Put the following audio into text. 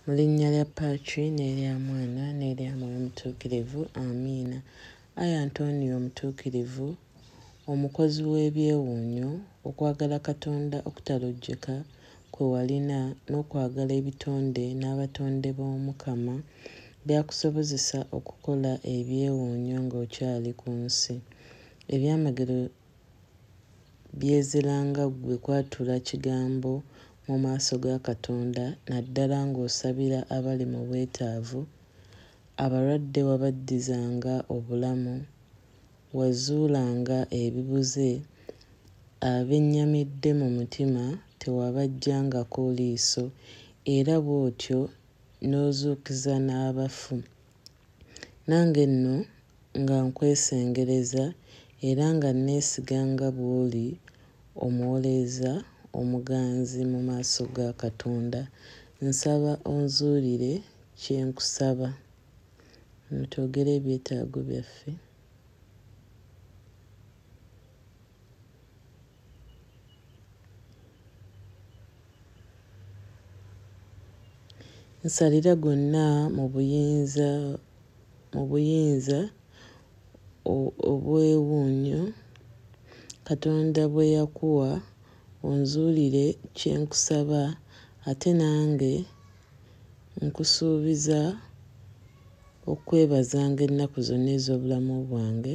Mu linnya lya Patri n'erya Mwana n'erya Mwoyo Mutuukirivu. Amiina. Ayi Antonio Omutuukirivu, omukozi w'ebyewuunyo, okwagala Katonda okutalojjeka kwe walina n'okwagala ebitonde n'abatonde b'Omukama byakusobozesa okukola ebyewuunyo ng'okyali ku nsi. Ebyamagero Byezela nga ggwe kwatula kigambo mu maaso ga Katonda naddala ng'osabira abali mu bwetaavu, abalwadde wabaddizanga obulamu, wazuulanga ebibuze, abennyamidde mu mutima tewabaggyangako liiso era bw'otyo n'ozuukiza n'abafu. Nange nno nga nkwesengereza era nga nneesiga nga bw'oli omuwolereza omuganzi mu maaso ga Katonda, nsaba onzuulire kye nkusaba. Twogere ebyetaago byaffe. Nsalira gonna mu buyinza mu buyinza obw'ewuunyo Katonda bwe yakuwa, onzuulire kye nkusaba ate nange nkusuubiza okukwebazanga ennaku zonna ez'obulamu bwange.